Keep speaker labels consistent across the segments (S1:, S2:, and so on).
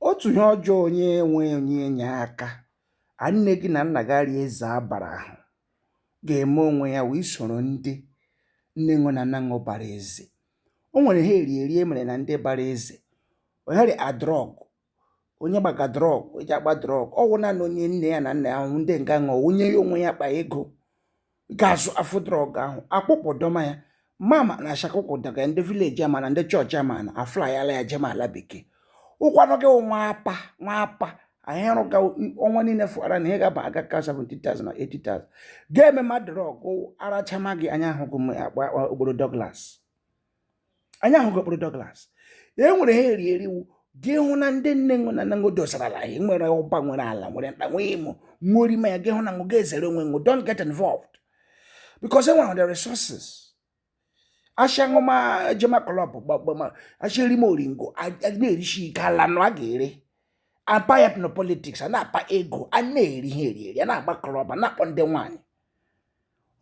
S1: Otu ihe ọjọọ onye enwe onye enye aka a nne gị na nna gị arịa eze abara ahụ ga-eme onwe ya wụ isoro ndị nne ṅụ na nna ṅụ bara eze o nwere ihe eri eri e mere na ndị bara eze onye eri drọg onye gbaga drọg e ji agba drọg ọ wụ naanị onye nne ya na nna ya wụ ndị nga ṅụọ onye ya onwe ya kpa ego ga-azụfu drọg ahụ akpụkpọ dọma ya mama na ashakụkwụ daga ndị vileji ama na ndị chọọchị ama na a flayala ya jema ala bekee ụkwanụ gị nwa apa nwa apa anyị rụga ọnwa niile fụara na ihe ga-aba gị aka 70,000 na 80,000 gị emema drọg ara achama gị anyị ahụ gị okporo Douglas anyị ahụ gị okporo Douglas e nwere ihe eri eri wụ gị hụ na ndị nne ṅụ na nna ṅụ dosarala anyị nwere ụba nwere ala nwere nta nwee imo nwee orime ya gị hụ na ṅụ ga-ezere onwe ṅụ don't get involved because e nwere the resources asha ṅụma jema klọb gbagbama asha erime oringo na-erisi ike ala nụ a ga-ere apa ya na politiks a na-akpa ego a na-eri ihe eri eri a na-agba klọb a na-akpọ ndị nwaanyị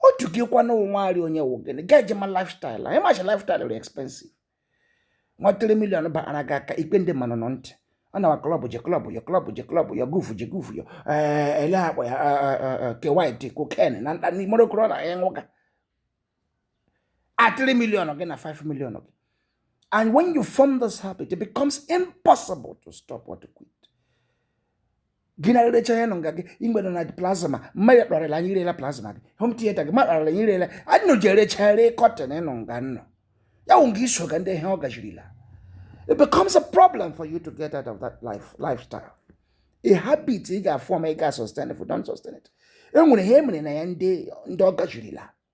S1: otu gịkwanụ onwe arị onye wụ gịnị ga-ejema lifestyle ahụ ị macha lifestyle dị expensive nwa 3 million bara gị aka ikpe ndị mmanụ nọ ntị ọ nawa klọb je klọb yọ klọb je klọb yọ gufu je gufu yọ eh, ele a kpọ ya eh, eh, kewit koken na nta na imo rị korona ị ṅụga a 3 million gị na 5 million gị and when you form this habit it becomes impossible to stop or to quit gị na rerecha ihe nọ nga gị igbere na plasma mmadụ kparịla anyị ị rela plasma gị home theater gị mmadụ kparịla anyị ị rela anyị nọ ji erecha ere kọtịn nọ nga ụnụ ya wụ nga ị soga ndị ihe ọ gajirila it becomes a problem for you to get out of that life lifestyle a habit ị ga-afọm ị ga-sustain if you don't sustain it e nwere ihe e mere na ya ndị ndị ọ gajirila